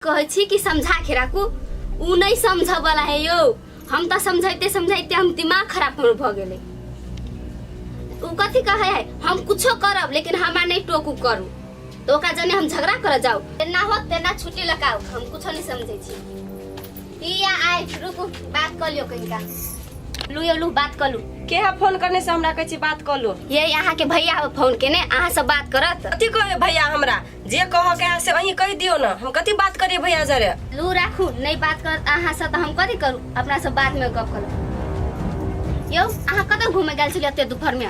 कहै छी कि समझा के राखू उ नहीं समझ वाला है यो हम तो समझाते समझाते हम दिमाग खराब हमर भ गेले उ कथी कहे है हम कुछो करब लेकिन हमार नहीं टोकू करू तो ओकरा जने हम झगड़ा कर जाऊ तेना हो तेना छुट्टी लगाऊ हम कुछो नहीं समझे छी पिया आए रुकू बात कर लियो कहीं का लू यो लू बात कर लू के है फोन करने से हमरा कहै छी बात कऽ लो ये यहाँ के भैया हो फोन केने अहाँ सब बात करत कथी कहै भैया हमरा जे कह के है से अहीं कह दियो ना हम कथी बात करिए भैया जरे लू राखू नहीं बात कर अहाँ से तो हम कथी करू अपना सब बात में गप करू यौ अहाँ कतऽ घूमे गेल छलियै एते दुपहर में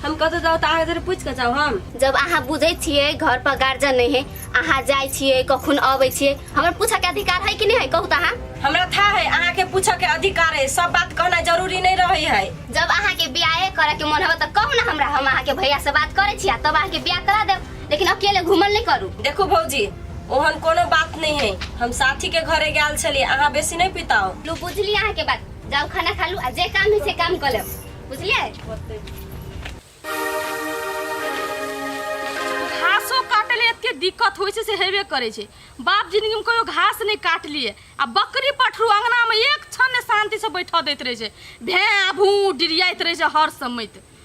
हम कतऽ जाओ तार जरे पूछ के जाओ हम जब अहाँ बुझै छियै घर पर गार्जियन नहीं है अहाँ जाइ छियै कखन अबै छियै हमर पूछऽ के अधिकार है कि नहीं है कहू तऽ अहाँ हमरा था है अहाँ के पूछे के अधिकार है सब बात कहना जरूरी नहीं रहे है जब अहाँ के ब्याहे करे के मन होबे तऽ कहू ने हमरा हम अहाँ के भैया से बात करै छियै तब अहाँ के ब्याह करा देब लेकिन अकेले घूमल नहीं करू देखो भौजी ओहन कोनो बात नहीं है हम साथी के घरे गैल छलिए अहाँ बेसी नहीं पिताओ लो बुझली अहाँ के बात जाओ खाना खा लू आ जे काम है से काम कर लेब बुझलिए घासो काटे ले एते दिक्कत होइ छै से हेबे करै छै बाप जिंदगी में कहियो घास नहीं काट लिए आ बकरी पठरू अंगना में एक क्षण ने शांति से बैठा दैत रहे छै भैं भू डिरियाइत रहे छै हर समय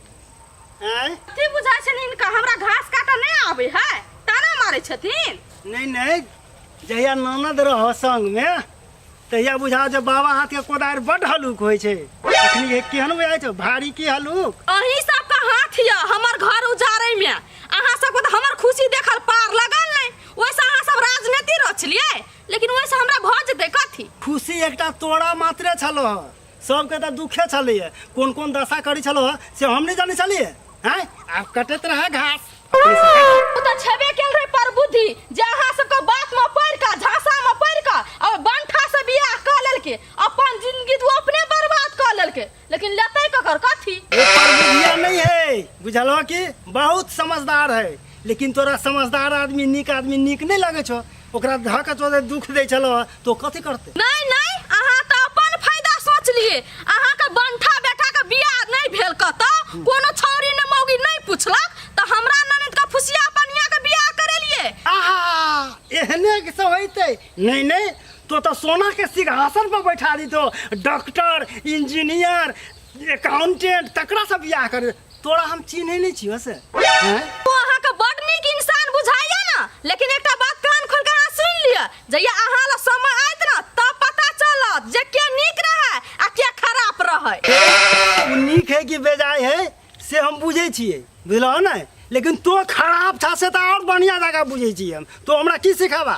आँय की बुझाइ छनि हिनका हमरा घास काटऽ नहि आबै है ताना मारै छथिन नहीं नहीं जहिया ननद रह संग में तहिया बुझा जे बाबा हाथ के कोदार बड हलुक होय छै अखनी के केहन बुझाय छै भारी की हलुक अही सबके हाथ यऽ हमर घर उजाड़ै में अहाँ सबके तऽ हमर खुशी देखल पार लगल नहि ओहिसँ अहाँ सब राजनीति रचलियै लेकिन ओहिसँ हमरा भऽ जेतै कथी खुशी एकटा तोरा मात्रे छलो सबके तऽ दुखे छलैए कोन कोन दशा करै छलौ हँ, से हम नहि जानै छलियै हैं आब कटैत रहै घास ओ तऽ छेबे केल रहे पर बुद्धि जे अहाँ सबके बात में पढ़ कऽ झांसा में पढ़ कऽ और बंठा से बियाह कऽ लेलके अपन जिंदगी तो अपने बर्बाद कऽ लेलके लेकिन लेतै ककर कथी एकर बुधिया नहीं है बुझलो कि बहुत समझदार है लेकिन तोरा समझदार आदमी नीक आदमी नीक नहीं लगे छो ओकरा धऽ कऽ तोरे दुख दै छलौ हँ, तो कथी करते नहीं नहीं अहाँ तो अपन फायदा सोच लिए अहाँ के बंठा बेटा के बियाह नहीं भेल कतो कोनो छौरी ने मौगी नहीं पूछलक तो हमरा ननद का फुसिया पनिया के बियाह करे लिए आहा एहने के सब होइते नहीं नहीं तो तो सोना के सिंहासन पर बैठा दी तो डॉक्टर इंजीनियर अकाउंटेंट तकरा सब बियाह कर तोरा हम चिन्है नहि छियौ से हैं? ओ अहाँके बड नीक इंसान बुझाइए ने लेकिन एकटा बात कान खोल के अहाँ सुनि लिअ जहिया अहाँ लग समय आयत ने तब पता चलत जे के नीक रहै आ के खराब रहै ओ नीक है कि बेजाय है से हम बुझै छियै बुझलहो ने लेकिन तो खराब था से तऽ आओर बढ़िआँ जकाँ बुझै छियै हम तो हमरा की सिखाबा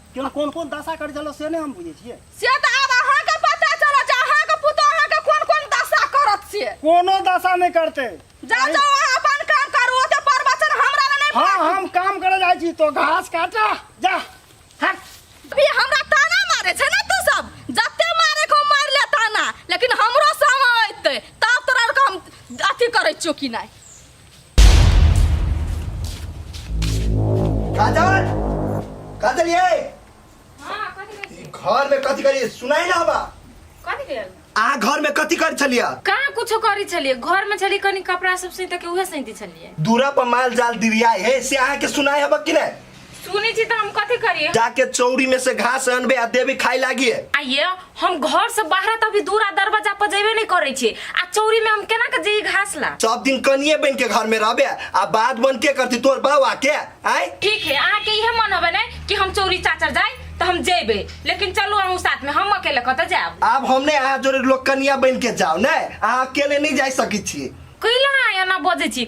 केहन कोन कोन दशा करै छलौ से नहि हम बुझै छियै से तऽ आब अहाँके पता चलत जे अहाँके पुतोह अहाँके कोन कोन दशा करत से कोनो दशा नहि करतै जाउ जाउ अहाँ अपन काम करू ओते प्रवचन हमरा लए नहि हाँ हम काम करे जाइ छी तो घास काटा जा हट भी हमरा ताना मारे छै ने तू सब जते मारे को मार ले ताना लेकिन हमरो समय एतै तब तोरा आरके हम अथी करै छियौ कि नहि काजल काजल ये हाँ कथी कहै ई छी घर में कथी करी सुनाई ना बा कथी भेल आ घर में कथी कर छलिया कहाँ कुछो करी छलिए घर में छलिए कनी कपड़ा सब सैत के उहे सैती छलिए दूरा पर माल जाल दिरिया हे से अहाँ के सुनाई हबक कि नहीं सुनी छी तो हम कथी करिए जाके चौरी में से घास अनबे आ देवी खाए लागी है आइए हम घर से बाहर तभी दूरा दरवाजा पर जेबे नहीं करे छी आ चौरी में हम केना के जे घास ला सब दिन कनिए बन के घर में रहबे आ बात बन के करती तोर बाव आके आय ठीक है अहाँ के इहे मन होबे ने कि हम चौरी चाचर जाए तो हम जेबे लेकिन चलू हम साथ में हम अकेले कत जाब अब हमने अहाँ जोरे लोग कनिया बन के जाओ ने अहाँ अकेले नहीं जा सकी छी कैला आया ना बजे छी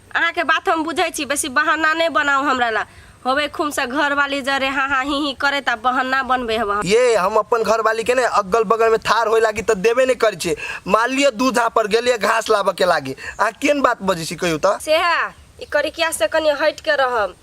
अहाँके बात हम बुझै छी बेसी बहाना नहि बनाउ हमरा ला होबे खुमसँ घरवाली जरे हाँ हाँ ही ही करैत आ बहाना बनबै हब अहाँ ये हम अपन घरवाली के ने अगल बगल में थार होए लागी तऽ देबे नहि करै छियै मान लिअ दूधा पर गेलियै घास लाबऽ के लागी अहाँ केन बात बजै छी कहियो तऽ सेहे ई करिकिया से कनि हटि के रहब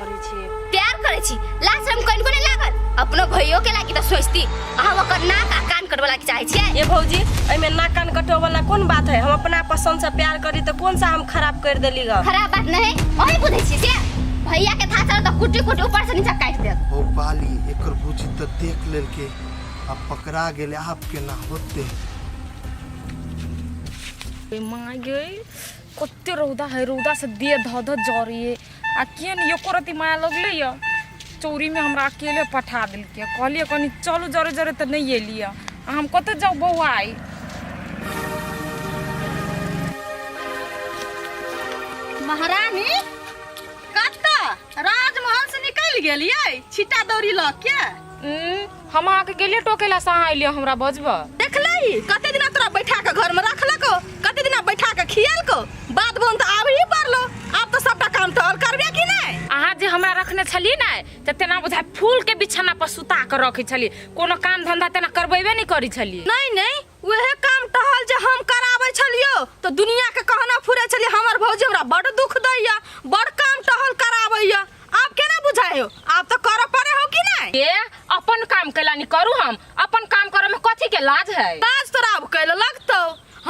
करै छी प्यार करै छी लाज हम कनिको नहि लागल अपनो भइयो के लागी तऽ सोचती अहाँ ओकर नाक आ कान कटबऽ लागी चाहै छियै ये भौजी एहिमे नाक कान कटो वाला कोन बात है हम अपना पसंद से प्यार करी तो कौन सा हम खराब कर देली ग खराब बात नहीं ओही बुझै छी से भैया के था चल तऽ कुटी कुटी ऊपर से नीचा काटि देब हो पाली एकर बुझी तऽ देख लेलके आ पकड़ा गेले आप केना होते माय गई कते रौदा है रौदा से देह धऽ धऽ जरिए आ केहन एको रति माया लगले यऽ चौरीमे हमरा अकेले पठा देलकै कहलियै कनि चलू जरे जरे तऽ नहि एलियै आ हम कतऽ जाउ बौआ आइ महारानी कतऽ राजमहल से निकलि गेलियै छिटा दौरी लऽ के उम्म, हम अहाँके गेलियै टोके लए से अहाँ अयलियै हमरा बजबऽ देखले ही कते दिना तोरा बैठा के घर में रखलको कते दिना बैठा के खियलको बात बोन तो आब ही पड़लो आब तो सबटा काम तो और करबे कि नहीं अहाँ जे हमरा रखने छलियै ने तऽ तेना बुझाय फूल के बिछौना पर सुता के रखै छलियै कोनो काम धंधा तेना करबेबे नहि करै छलियै नहीं नहीं वह काम टहल जे हम कराबै छलियो तो दुनिया के कहना फुरे छलिए हमर भौजी हमरा बड़ दुख दैया बड़ काम टहल कराबैया आब केना बुझाय हो आब तो करऽ पड़े हो कि नहीं ये अपन काम कैलानी करू हम अपन काम करे में कथी के लाज है ताज तोरा अब कैले लगतौ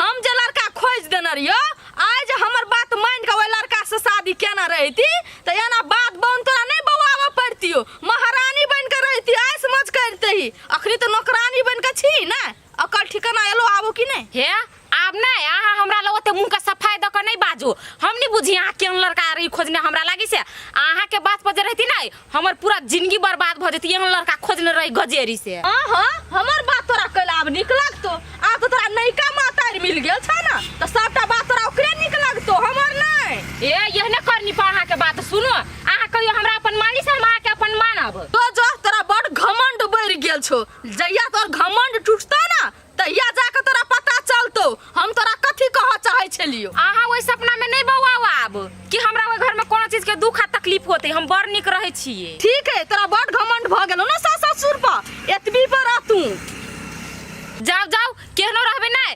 हम जे लड़का खोज देने रहियो आइ जे हमर बात मान के ओइ लड़का से शादी केना रहिती त एना बात बन तोरा नहीं बौआबऽ पड़तियो महारानी बन के रहिती आइ समझ करते ही अखनी तो नौकरानी बन के छी ना अकल ठिकाना एलो आबो कि नहीं हे आब नहीं अहाँ हमरा लग ओते मुँह के सफाई दऽ कऽ नहि बाजू हम नहि बुझी अहाँ केहन लड़का रही खोजने हमरा लागी से अहाँ के बात पर जे रहती नहीं हमर पूरा जिंदगी बर्बाद भऽ जेती एहन लड़का खोजने रही गजेरी से हाँ हाँ हमर बात तोरा कल आब निक लगतो आब तो तोरा नयका मातारी मिल गेल छ ना तो सबटा बात तोरा ओकरे निक लगतो हमर नहीं ए यह ने करनी पर अहाँ के बात सुनो अहाँ कहियो हमरा अपन मानी से हम अहाँके अपन मानब तो जो तोरा बड़ घमंड बढ़ गेल छो जहिया तोर घमंड टूटता ना तहिया जाके तोरा पता चलतो हम तोरा कथी कह चाहे छलियो अहाँ ओहि सपना में नहीं बौआओ आब कि हमरा ओहि घर में कोनो चीज के दुख आ तकलीफ होते हम बड़ निक रहे छिए ठीक है तोरा बड़ घमंड भ गेलो ना सास ससुर पर एतबी पर रह तू जाओ जाओ केहनो रहबे नहीं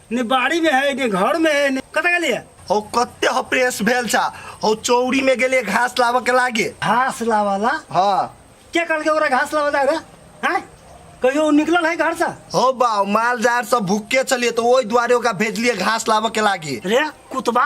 ने बाड़ी में है ने घर में है ने कत गेलिए हो कते हो प्रेस भेल छा हो चौरी में गेलिए घास लाबऽ के लागे घास लावाला हाँ के कहल के ओकरा घास लावा जाए हैं कहियो उ निकलल है घर से हो बा माल जाल सब भूखे चलिए तो ओहि दुआरे ओकरा भेजलिए घास लाबऽ के लागे रे कुतबा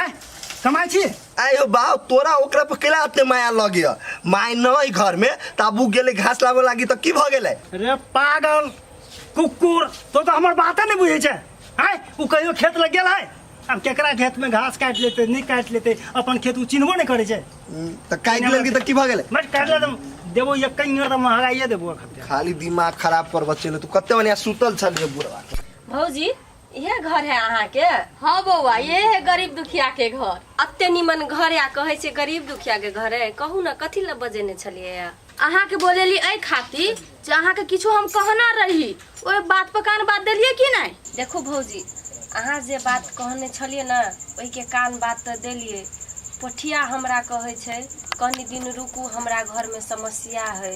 आय कमाई छी आयो बाप तोरा ओकरा पर केला अते माया लगे ह माय नहीं घर में ताबू गेले घास लाबे लागी तो की भ गेले रे पागल कुकुर तो तो हमर बाते नहीं बुझे छे आय उ कहियो खेत लग गेल है अब केकरा खेत में घास काट लेते नहीं काट लेते अपन खेत उ चिन्हबो नहीं करे छे तो काट लेलगी तो की भ गेले मत काट ले तुम देबो ये कहीं और महंगाइए देबो अखन खाली दिमाग खराब कर बच्चे ले तू कते मने सुतल छल रे बुढ़वा भौजी इहे घर है अहाँ के हाँ बौआ ये है गरीब दुखिया के घर अते निमन घर या कहे छै गरीब दुखिया के घर है कहू ना कथी ला बजेने छलिए या अहाँ के बोलेली एहि खातिर जे अहाँ के किछो हम कहना रही ओहि बात पर कान बात देलिए कि नहीं देखू भौजी अहाँ जे बात कहने छलिए ना ओहि के कान बात तऽ देलिए पोठिया हमरा कहे छै कनि दिन रुकू हमरा घरमे समस्या है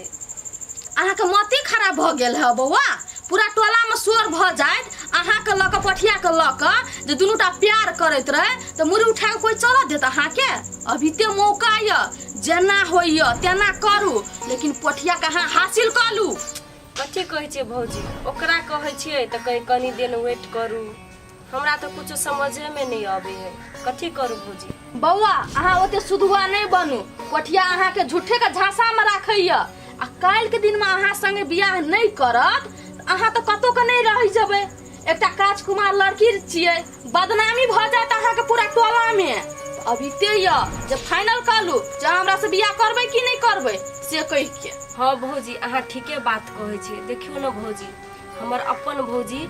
अहाँके मति खराब भऽ गेल है बौआ पूरा टोलामे शोर भऽ जायत अहाँके लऽ कऽ पठियाके लऽ कऽ जे दुनूटा प्यार करैत रहै तऽ मुड़ी उठा कऽ कोइ चलऽ देत अहाँके अभी ते मौका यऽ जेना होइए तेना करू लेकिन पठियाके अहाँ हासिल कऽ लू कथी कहै छियै भौजी ओकरा कहै छियै तऽ कहै कनि दिन वेट करू हमरा तो कुछ समझे में नहीं आवे है कथी करू भौजी बौआ अहाँ ओते सुधुआ नहि बनू कोठिया अहाँके झूठे के झांसा में राखैया आ काल्हि के दिन में अहाँ संगे बियाह नहि करत तऽ अहाँ तऽ कतौ के नहि रहि जेबै एकटा काज कुमार लड़की छियै बदनामी भऽ जायत अहाँके पूरा टोला में तऽ अब इते य जे फाइनल कऽ लू जे अहाँ हमरा से बियाह करबै कि नहि करबै से कहि के हाँ भौजी अहाँ ठीके बात कहै छी देखियो ना भौजी हमर अपन भौजी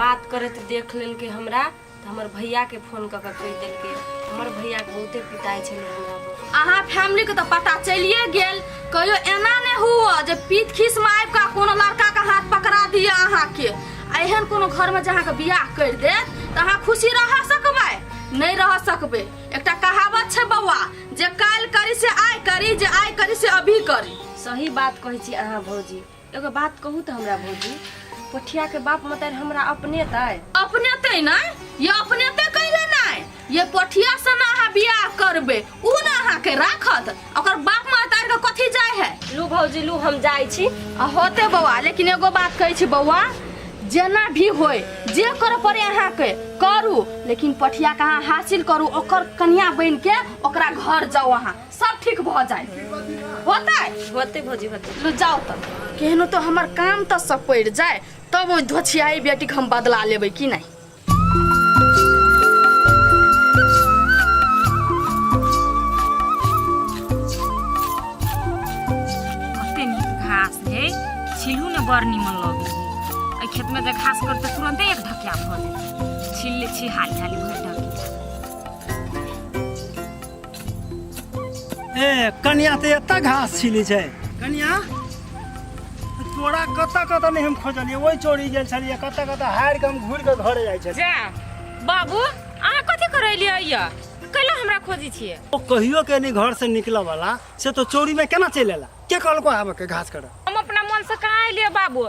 बात करैत देख लेलकै हमरा तऽ हमर भैयाके फोन कऽ कऽ कहि देलकै हमर भैयाके बहुते पिटाइ छलै हमरा पर। अहाँ फैमिलीके तऽ पता चलिए गेल कहियो एना नहि हुअ जे पीत खीसमे आबि कऽ कोनो लड़काके हाथ पकड़ा दिअ अहाँके आ एहन कोनो घरमे जे अहाँके बियाह करि देत तऽ अहाँ खुशी रह सकबै नहि रह सकबै एकटा कहावत छै बौआ जे काल्हि करी से आइ करी जे आइ करी से अभी करी सही बात कहै छी अहाँ भौजी एगो बात कहू तऽ हमरा भौजी पोठिया के बाप मतारी हमरा अपने तय अपने ते नहीं ये अपने ते कैले नहीं ये पोठिया से ना अहाँ बियाह करबे उ ना अहाँ के राखत ओकर बाप महतार के कथी जाय है लू भौजी लू हम जाइ छी आ होते बौआ लेकिन एगो बात कहै छी बौआ जेना भी होय जे करऽ पड़े अहाँ के करू लेकिन पठिया के अहाँ हासिल करू ओकर कनिया बन के ओकरा घर जाओ अहाँ सब ठीक भ जाए होते होते भौजी होते लो जाओ तब केहनो तो हमर काम त सब पड़ जाए तब ओइ धोछियाई बेटी के हम बदला लेबै कि नहीं कते नीक घास है छिलू ने बड़ निमन लगे है एहि खेत में जे घास करते तुरंते एक ढकिया भऽ जेतै छिल ले छी हाली हाली भरि ढकिया ए कन्या तऽ एतऽ घास छिली छै कन्या तोरा कतऽ कतऽ नहि हम खोजलियै ओहि चोरी गेल छलियै कतऽ कतऽ हारि कऽ हम घुरि कऽ घरे जाइ छलियै जा बाबू अहाँ कथी करैलियै यऽ कैला हमरा खोजी छियै ओ कहियो के नहीं घर से निकलऽ वाला से तो चोरी में केना चलि एला के कहलको आबे के घास करऽ हम अपना मन से कहाँ एलियै बाबू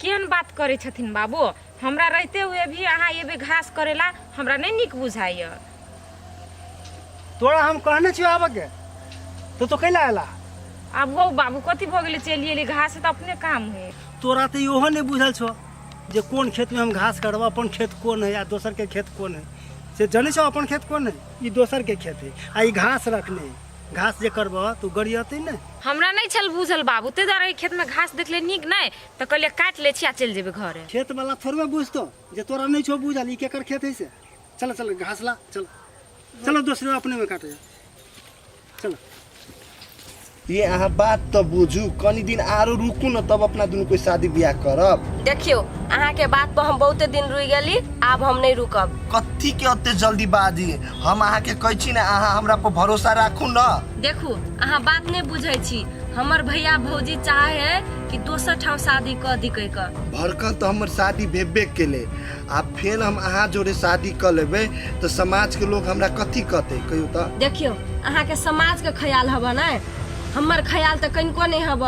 केहन बात करै छथिन बाबू हमरा रहते हुए भी अहाँ एबे घास करेला हमरा नहीं निक बुझाइए तोरा हम कहने छियो आबे के तो तो कैला आला अब हो बाबू कथी भऽ गेलै चलि एली घास तऽ अपने काम है तोरा तो इहो नहीं बुझल छो जे कोन खेत में हम घास करब अपन खेत कोन है या दोसर के खेत कोन है से जने छो अपन खेत कोन है ई दोसर के खेत है आ ई घास रखने है घास जे करबह तू गरियते ने हमरा नहीं छल बुझल बाबू ते दुआरे खेत में घास देखले निक नहीं तो कहले काट ले छी आ चल जेबे घरे खेत वाला थोड़बे बुझतो जे तोरा नहीं छो बुझल ई केकर खेत है से चल चल घास ला चल चलो दोसरे अपने में काटे चल ये अहाँ बात तो बुझू कनी दिन आरो रुकू न तब अपना दुनू कोई शादी ब्याह करब देखियो अहाँ के बात पर हम बहुते दिन रुक गेली आब हम नहीं रुकब कथी के अते जल्दीबाजी हम अहाँ के कहै छी ने अहाँ हमरा पर भरोसा राखू न देखू अहाँ बात नहि बुझै छी हमर भैया भौजी चाहे है कि दोसर ठाम शादी कऽ दी कहि कऽ भड़कन तऽ हमर शादी भेबे केलै आ फेर हम अहाँ जोड़े शादी कऽ लेबै तऽ समाजके लोक हमरा कथी कहतै कहियौ तऽ देखियौ अहाँके समाजके ख्याल हबऽ ने हमर ख्याल तऽ कनिको नहि हब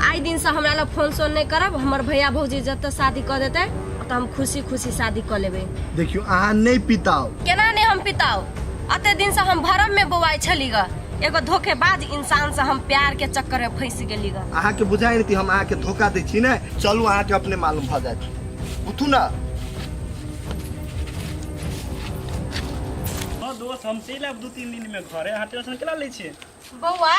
आइ दिनसँ हमरा लग फोन सोन नहि करब हमर भैया भौजी जतऽ शादी कऽ देतै ओतऽ हम खुशी खुशी शादी कऽ लेबै देखियो अहाँ नहि पिताओ केना नहि हम पिताओ अते दिनसँ हम भरम में बौआइ छली ग एगो धोखेबाज इंसान से हम प्यार के चक्कर में फंस गेली ग अहाँ के बुझाई नहीं हम अहाँ के धोखा दे छी ने चलू अहाँ के अपने मालूम भ जाए उठू ना दोस्त हम चलि आब दू तीन दिन मे घरे अहाँ टेंशन केला लै छियै बौआ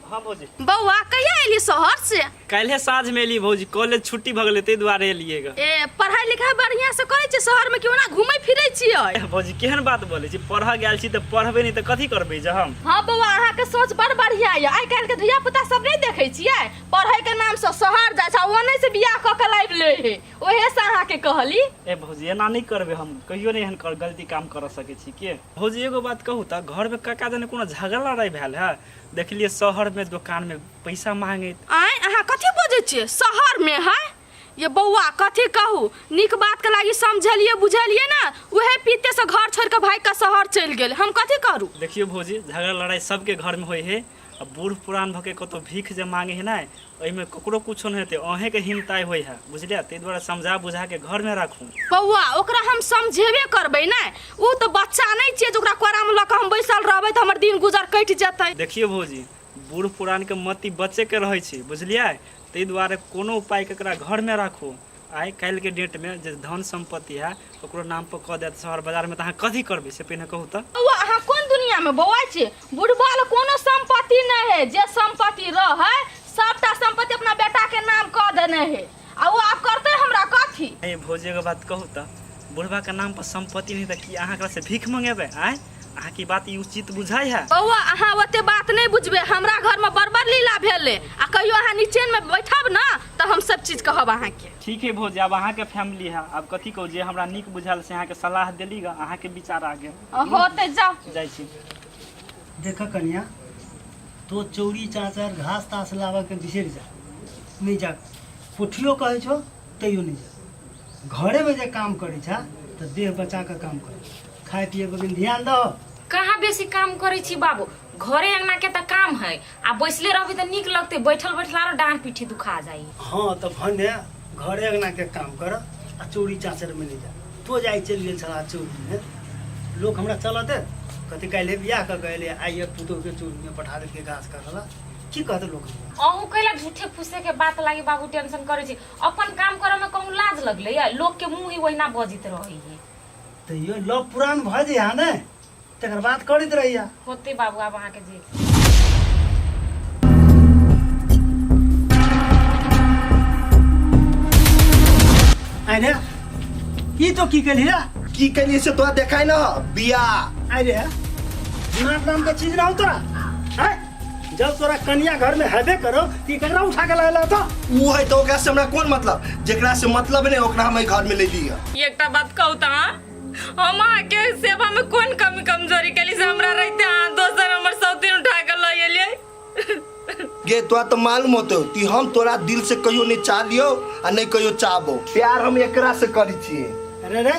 हाँ भौजी बौआ कहिया एली शहर से काल्हे साँझ में एली भौजी कॉलेज छुट्टी भऽ गेलै ताहि दुआरे एलियै ग ए पढ़ाई लिखाई बढ़िया से करे छी शहर में क्यों ना घूमे फिरे छियै एह, भौजी केहन बात बोलै छी पढ़ऽ गेल छी तऽ पढ़बै नहि तऽ कथी करबै जे हम हाँ बौआ अहाँ के सोच बड़ बढ़िया ये आइ काल्हि के धिया पुता सब नहीं देखे छियै पढ़े के नाम से शहर जाय छै ओने से बियाह क के लाइब ले हे ओहे से अहाँ के कहली ए भौजी एना नहि करबै हम कहियो नहि एहन कर गलती काम करऽ सकै छी के भौजी एगो बात कहू तऽ घरमे कका जने कोनो झगड़ा लड़ाइ भेल है देखलियै शहरमे दोकानमे पैसा मांगैत आँय अहाँ कथी बजै छियै शहरमे है ये बौआ कथी कहू नीक बातके लागि समझलियै बुझलियै ने उहे पीतेसँ घर छोड़ि कऽ भागि कऽ शहर चलि गेल हम कथी करू देखियौ भौजी झगड़ा लड़ाइ सबके घरमे होइ है आ बूढ़ पुरान भऽ के कतौ भीख जे मांगे है ने एहिमे ककरो किछो नहि हेतै अहेँके हिमताइ होइ है बुझलियै ताहि दुआरे समझा बुझाके घरमे राखू बौआ ओकरा हम समझेबे करबै ने ओ तऽ बच्चा नहि छियै जे ओकरा कोरामे लऽ कऽ हम बैसल रहबै तऽ हमर दिन गुजर कटि जेतै देखियौ भौजी बूढ़ पुरानके मति बच्चेके रहै छै बुझलियै ताहि दुआरे कोनो उपाय ककरा घरमे राखू आइ काल्हि के डेट में जे धन संपत्ति है ओकरो नाम पर कह देत शहर बाजार में त अहाँ कथी करबे से पहिने कहू त बौआ अहाँ कोन दुनिया में बौआ छी बुढ़बा ले कोनो संपत्ति नहीं है जे संपत्ति रह है सबटा संपत्ति अपना बेटा के नाम कह देने है आ वो आप करते हमरा कथी ए भौजी के बात कहू त बुढ़बा के नाम पर संपत्ति नहीं त की अहाँ एकरा से भीख मंगेबे आय अहाँ की बात ई उचित बुझाइ है बौआ अहाँ ओते बात नहीं बुझबे हमरा घर में बड़ बड़ लीला भेले आ कहियो अहाँ नीचे में बैठब ना तो हम सब चीज कहब अहाँ के ठीक है भौजी अब अहाँ के फैमिली है अब कथी कहू जे हमरा नीक बुझायल से अहाँ के सलाह देली गा अहाँ के विचार आ गेल होते जाओ जाइ छी देख कन्या तो चौरी चाचर घास तास लाबऽ के बिसरि जा नहि जा पोठियो कहै छौ कहियो नहि जाए घरेमे जे काम करै छा तऽ देह बचा कऽ काम कर खाए पिए पर कनि ध्यान दह कहाँ बेसी काम करै छी बाबू घरे अंगना के तऽ काम है आ बैसले रहबी तऽ नीक लगते बैठल बैठल आरो डांर पीठी दुखा जाई हँ तऽ भने घरे अंगना के काम कर आ चोरी चाचर में ले जा तो जाए चलि गेल छला चोरी में लोक हमरा चलऽ दे कथी काल्हि बियाह कऽ के एलै आइए पुतोहके चोरीमे पठा देलकै घास काटला की कहत लोग अहूँ कैला झूठे फूसे के बात लागी बाबू टेंशन करे छी अपन काम करे में कहूँ लाज लगले या लोग के मुंह ही वहिना बजित रही है तो यो लव पुरान भ जे हा ने तकर बात करत रहिया होते बाबू आब अहाँ के जे आइ रे ई तो की कली रे की कलिए से तोरा देखाय ना बिया आइ रे दिमाग नाम के चीज ना हो तोरा हैं जब तोरा कनिया घर में हेबे करो कि ककरा उठा के लायला तो वो है तो ओकरा से हमरा कोन मतलब जेकरा से मतलब नहीं ओकरा हम एहि घर में ले ली है एकटा बात कहू त अहाँ, हम अहाँके सेवा में कोन कमी कमजोरी केली से हमरा रहते अहाँ दोसर हमर सौतीन उठा के लऽ एलियै गे तोरा तो मालूम होतो कि हम तोरा दिल से कहियो नहीं चाह लियो आ नहीं कहियो चाहबो प्यार हम एकरा से करी छिए अरे रे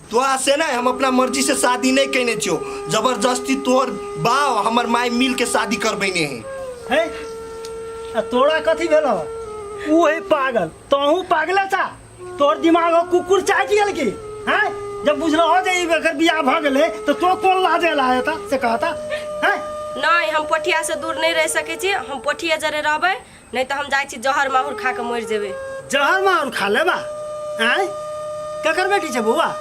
तोरा से नहि हम अपना मर्जी से शादी नहि केने छियो जबरदस्ती तोर बाव हमर माय मिल के शादी करबेने है है आ तोरा कथी भेल हो ऊ है पागल तोहू पागले था तोर दिमाग हो कुकुर चाट गेल की हैं जब बुझलो हो जे ई एकर बियाह भ गेले तो तो कोन लाजे ला हेता से कहता हैं नहि हम पोठिया से दूर नहि रहि सकै छी हम पोठिया जरे रहबै नहि तऽ हम जाइ छी जहर माहुर खा कऽ मरि जेबै जहर माहुर खा लेबा आँय ककर बेटी छै बौआ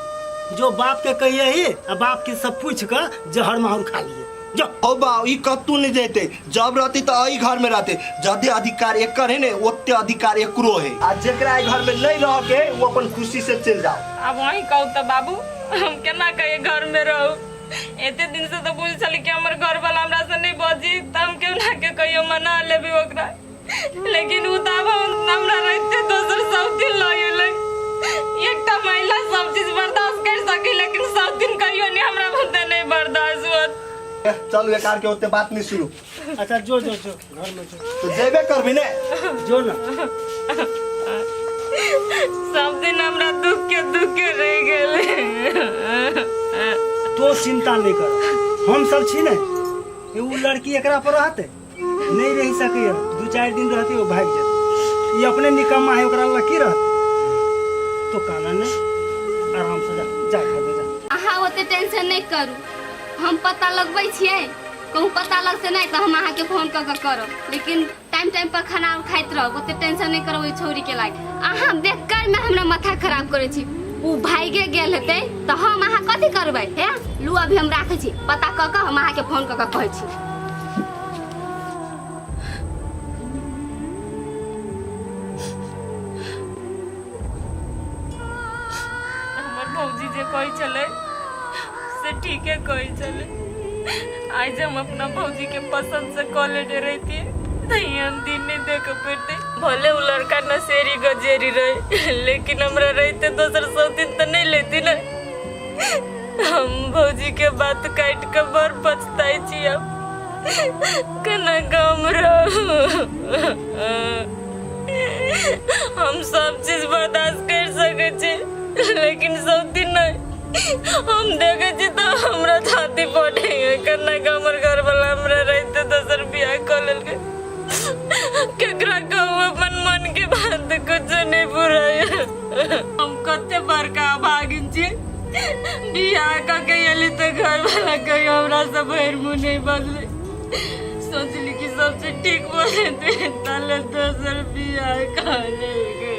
जो बाप के कहिए ही आ बाप के सब पूछ कऽ जहर माहुर खा लिए जो ओ बा ई कतू नहीं देते जब रहती तो अही घर में रहते जदे अधिकार एकर है ने ओते अधिकार एकरो है आ जेकरा ए घर में नहीं रह के वो अपन खुशी से चल जाओ अब वही कहू तो बाबू हम केना कहिए घर में रहू एते दिन से तो बुझ छल कि हमर घर वाला हमरा से नहीं बजी त हम केहू ना के कहियो मना लेबी ओकरा लेकिन उ दाब हमरा रहते दोसर सब दिन लगे ले एकटा महिला सब चीज बर्दाश्त कर सकी लेकिन सब दिन कहियो नहीं हमरा बुते नहीं बर्दाश्त होत ए, चलू एकार के ओते बात नहीं सुनू अच्छा जो जो जो तो जेबे करबी ने जो ना सब दिन हमरा दुख के दुख के रह गेले तो चिंता नहीं कर हम सब छी ने ए, उ लड़की एकरा पर रहते नहीं रह सके है। दू चार दिन रहते वो भाग जाते ये अपने निकम्मा है ओकरा लग की रहते तो काना ने आराम से जा जा खा दे जा अहाँ ओते टेंशन नहीं करू हम पता लगबै छियै कहूँ पता लग से नहीं तो हम अहा के फोन कर करो लेकिन टाइम टाइम पर खाना खाइत रहो ओते टेंशन नहीं करो छोरी के लाग अहा बेकार में हमरा माथा खराब करे छी उ भाई के गेल हेते तो हम अहा कथि करबे हे लू अभी हम राखे छी पता क के हम अहा के फोन कर कहे छी हमर भौजी जे कहै छलै से ठीके कहै छलै आइ जे हम अपना भौजीके पसन्दसँ कऽ लेने रहितियै तऽ ई हम दिन नहि देख पड़तै भले ओ लड़का नशेरी गजेरी रहै लेकिन हमरा रहिते दोसर सब दिन तऽ नहि लेती ने हम भौजीके बात काटि कऽ बड़ पछताइ छी आब केना गाम रहू हम सब चीज बर्दाश्त करि सकै छी लेकिन सब दिन नहि हम देखे छी तो हमरा छाती पटे है कन्ना के हमर घर वाला हमरा रहते दोसर बियाह कर लेलके केकरा कहू अपन मन के बात कुछ नहीं बुराय हम कते बड़का भागिन छी बियाह का के एली तो घर वाला कही हमरा से भैर मुँह नहीं बदले सोचली कि सबसे ठीक बोले थे ताले दोसर बियाह कर लेलके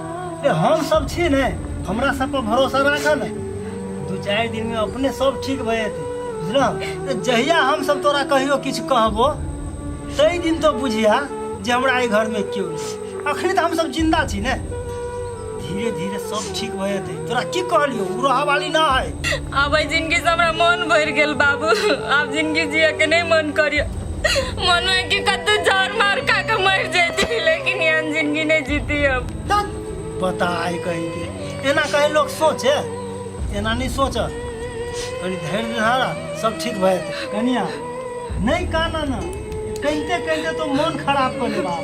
अरे हम सब छी ने हमरा सब पर भरोसा राखऽ ने दू चारि दिन में अपने सब ठीक भए जेतै बुझलह जहिया हम सब तोरा कहियो किछु कहबो ताहि दिन तो बुझिया जे हमरा एहि घर में केओ नहि अखनी तऽ हम सब जिंदा छी ने धीरे धीरे सब ठीक भए जेतै तोरा की कहलियो उ रह वाली ना है अब एहि जिनगी से हमरा मन भरि गेल बाबू आब जिनगी जिए के नहि मन करियो मन होइ कि कतौ जहर मार खा के मरि जैती लेकिन एहन जिनगी नहि जीती हम तब पता है कहीं के एना कहीं लोग सोचे एना नहीं सोच कनी धैर्य धारा सब ठीक भए जेतै। कनिया नहीं काना ना कहिते कहिते तो मन खराब कर ले बाप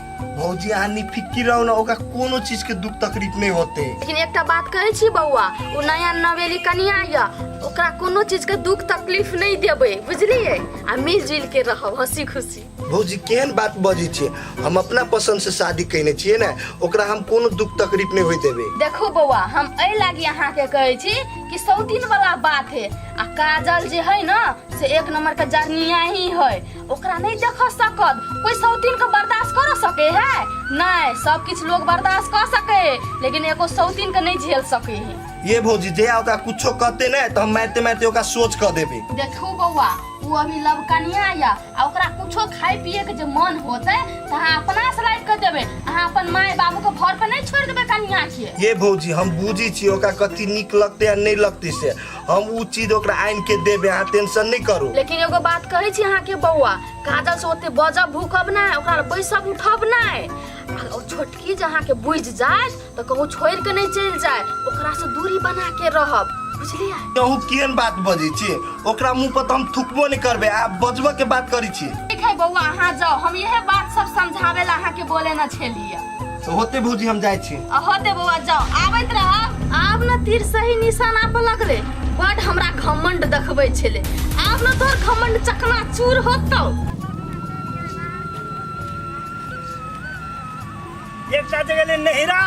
भौजी अहाँ निफिकिर रहू ना ओकरा कोनो चीज के दुख तकलीफ नहीं होते लेकिन एकटा बात कहै छी बौआ ओ नया नवेली कनिया यऽ ओकरा कोनो चीज के दुख तकलीफ नहि देबै बुझलियै आ मिल जुल के रहब हंसी खुशी भौजी केहन बात बजै छियै हम अपना पसंद से शादी कयने छियै ने ओकरा हम कोनो दुख तकलीफ नहीं होय देबै देखो बौआ हम एहि लागी अहाँके कहै छी कि सौतीन वाला बात है आ काजल जे है ना से एक नंबर के जरनिया ही है ओकरा नहीं देख सकत कोई सौतीन के बर्दाश्त कर सके है नहीं सब किछ लोग बर्दाश्त कर सके है लेकिन एगो सौतीन के नहीं झेल सके है ये भौजी जे ओकरा कुछो कहते ना तो हम मारते मारते ओकरा सोच कह देबे देखू बौआ वो अभी लव कनिया या आ ओकरा कुछो खाए पिए के जे मन होते त अहाँ अपना से लाइट कर देबे अहाँ अपन माय बाबू के घर पे नहीं छोड़ देबे कनिया के ये भौजी हम बुझी छी ओकरा कथी नीक लगते आ नहीं लगते से हम उ चीज ओकरा आनि के देबे अहाँ टेंशन नहीं करू लेकिन एगो बात कहै छी अहाँके बौआ काजल से ओते बजब भूकब नहि ओकरा लए बैसब उठब नहि आ ओ छोटकी जे अहाँके बुझि जाय तऽ कहूँ छोड़ि कऽ नहि चलि जाय ओकरा से दूरी बना के रहब बुझलियै कहू केहन बात बजै छी ओकरा मुंह पर तऽ हम थुकबो नहीं करबे आप बजबो के बात करै छी ठीक है बौआ अहाँ जाओ हम यह बात सब समझावे ला अहाँके बोले न छलियै तो होते भौजी हम जाए छी आ होते बौआ जाओ आबैत रह आब न तीर सही निशाना पर लगले बड हमरा घमंड देखबै छेले आब न तोर घमंड चकना चूर होतौ एकटा जगह ले नहिरा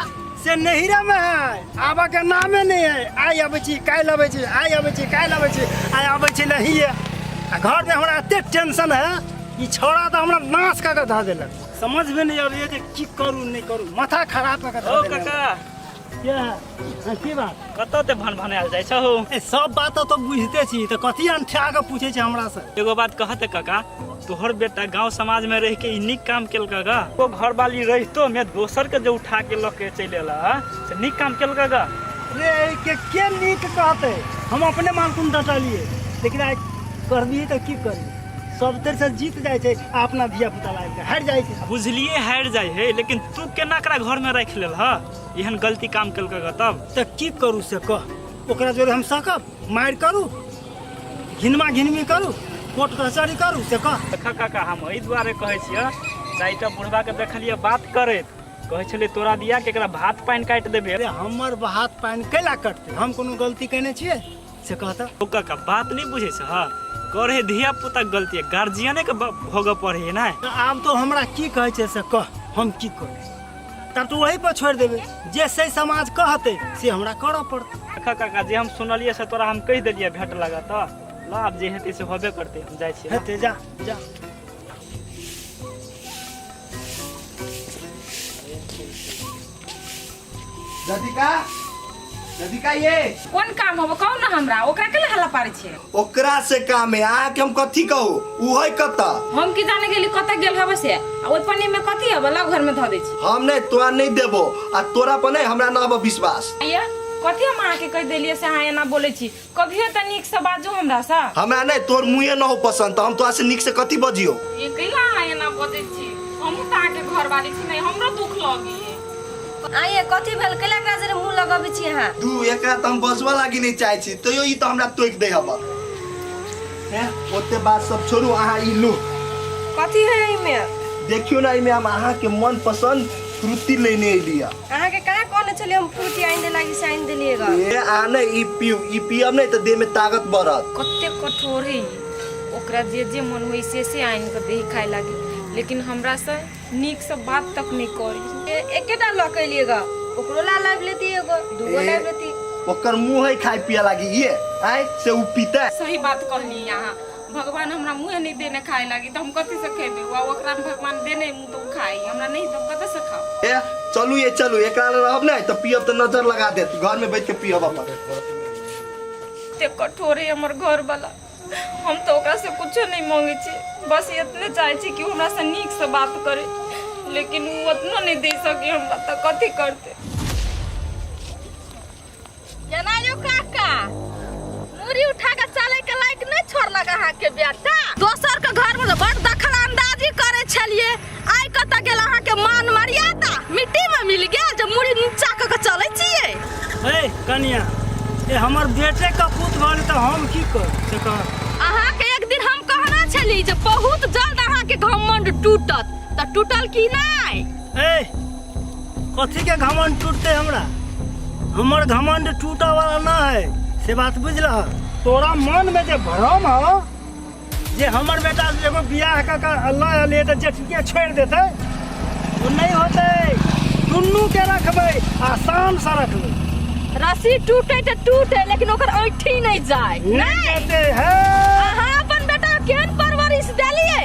से नहिरा में है आबा के नामे नहीं है आइ आबै छी काल्हि आबै छी आइ आबै छी काल्हि आबै छी आइ आबै छी नहिए आ घर में हमरा एते टेंशन है ई छौड़ा तऽ हमरा नाश कऽ के धऽ देलक समझ में नहीं आबैया जे की करू नहीं करू माथा खराब कऽ के ओ धऽ देने काका क्या हाँ, की बात कतऽ ते भन भनायल जाइ छौ ए, सब बात तो बुझते छी तो कथी अंठा के पूछे छी हमरा से एगो बात कहते काका तोहर बेटा गांव समाज में रह के ई नीक काम केलका गा ओ घर वाली रहितो में दोसर के जो उठा के लऽ के चलि एला हा, से नीक काम केलका गा रे ए के के नीक कहते हम अपने मालकुन डटलिए लेकिन आइ कर दिए तो की करी सब तर से जीत जाए छै आ अपना धिया पुता लाग के हारि जाए छै बुझलिए हारि जाइ हे लेकिन तू केना एकरा घर में राखि लेल ह एहन गलती काम केलकै ग तब तऽ की करू से कह ओकरा जोरे हम सकब मारि करू घिनमा घिनमी करू कोर्ट कचहरी करू से कह देख काका हम एहि दुआरे कहै छियै चाहे एकटा बुढ़बा के देखलियै बात करैत कहै छलै तोरा दिया के एकरा भात पानि काटि देबे अरे हमर हाथ पानि कैला कटतै हम कोनो गलती केने छियै से कहत ओकर का बात नहीं बुझे छ करे धिया पुता के गलती है गार्जियने के ब- भोगऽ पड़े है ना आब तो हमरा की कहै छै से कह हम की कहै तब तो वही पर छोड़ देबे जे सही समाज कहते से हमरा करऽ पड़तै देखा काका जे हम सुनलिए से तोरा हम कह दिलिए भेट लगा तो ला आब जे हेतै से होबे करते हम जाइ छियै हेतै जा जा राधिका राधिका ये कोन काम होबो कहू ना हमरा ओकरा के हल्ला पारे छे ओकरा से काम है अहाँ के हम कथी कहू उ है कता हम की जाने गेली कत गेल हबे से आ ओइ पन्नी में कथी हबे लग घर में धऽ दै छी हम नहीं तोरा नहीं देबो आ तोरा पर नहीं हमरा ना अब विश्वास ये कथी हम अहाँ के कहि देलिए से अहाँ एना बोले छी कभियो त नीक से बाजू हमरा से हमरा नहीं तोर मुँहे न हो पसंद तो हम तोरा से निक से कथी बजियो ये कैला अहाँ एना बजै छी हमहूँ तऽ अहाँके घरवाली छी नहि हमरो दुख लगी आइए कथी भेल कैला एकरा जरे मुंह लगबै छी अहाँ तू एकरा त हम बजवा लागी नहीं चाहे छी तैयो ई त हमरा टोक दे हबा हैं ओते बात सब छोड़ू अहाँ ई लू कथी है एहिमे देखियो ना एहिमे हम अहाँके मन पसंद फ्रूटी लेने अयली है अहाँ के कहाँ कहने छलियै हम फ्रूटी आनि दे लागी से आनि देलियै गा ए आने ई पीऊ ई पियब नहीं तो देह में ताकत बढ़त कते कठोर है ओकरा जे जे मन होइ से से आनि कऽ देही खाय लागी लेकिन हमरा से नीक से बात तक नहि करी ए- एकेटा लऽ के अयलियै गा ओकरो ला लाबि लेती एगो दूगो ए। लाबि लेती ओकर मुंह है खाए पिए लागी ये आए से उ पीता सही बात कहली अहाँ भगवान हमरा मुँहे नहि देने खाय लागी तऽ हम कथी से खेबै वा ओकरा भगवान देने तो खाई हमरा नहीं तो कत से खाओ ए चलू ये चलू एकरा ले रहब नहीं तो पियब तो नजर लगा देत घर में बैठ के पियब अपन ते कठोर है हमर घर वाला हम तो ओकरा से कुछ नहीं मांगे छी बस इतने चाहे छी कि उ हमरा से नीक से बात करे लेकिन उ उतना नहीं दे सके हमरा तो कथी करते केना यौ काका मुड़ी उठा के चले के लायक नहीं छोड़लक अहाँ के बेटा दोसर के घर में बड़ दखल अंदाजी करे छलिए आइ कत गेल अहाँ के मान मर्यादा मिट्टी में मिल गया जे मुड़ी नीचा क के चले छिए ए कनिया ए हमर बेटे का पूत भल तो हम की कर से कह अहाँ के एक दिन हम कहना छली जे बहुत जल्द अहाँ के घमंड टूटत त टूटल की नहीं ए कथीके घमंड टूटते हमरा हमर घमंड टूटऽ वाला ना है से बात बुझलह तोरा मन में जे भ्रम हो जे हमर बेटा एगो बियाह कऽ के अल्लाह अलिए तऽ जेठिके छोड़ि देतै ओ नहि होतै दुनूके रखबै आ शानसँ रखबै रस्सी टूटे तऽ टूटे लेकिन ओकर ऐठी नहीं जाए नहीं देते है अहाँ अपन बेटा केहन परवरिश देलियै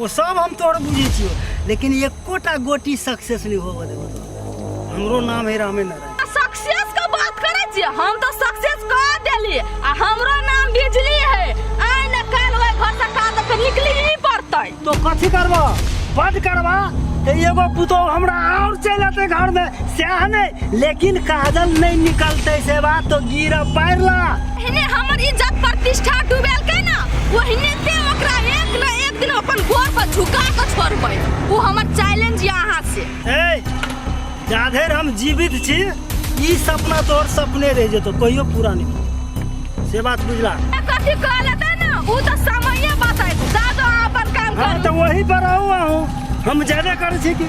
ओ सब हम तोहर बुझै छियो लेकिन एकोटा गोटी सक्सेस नहीं होबऽ देबो तो हमरो नाम है रामे नारायण सक्सेस के बात करे छियै हम तो सक्सेस कर देली आ हमरो नाम बिजली है आइ ने काल ओए घर से काल के निकली ही पड़तै तो कथी करबो बंद करबा ते एगो पुतो हमरा और चल आते घर में सैह नहीं लेकिन काजल नहीं निकलते से बात तो गिरा पैर ला एहने हमर इज्जत प्रतिष्ठा डुबेलकै ना ओहने से ओकरा एक न एक दिन अपन गोर पर झुका के छोड़बै ओ हमर चैलेंज या अहाँ से ए जाधेर हम जीवित छी ई सपना तोहर सपने रह जेतो कहियो पूरा नहीं से बात बुझला ए, कथी कह लेतै ना ओ तऽ समये बतैत जा दो अहाँ अपन काम हाँ करू तो वही पर आऊ आऊ हम जाबे करै छी कि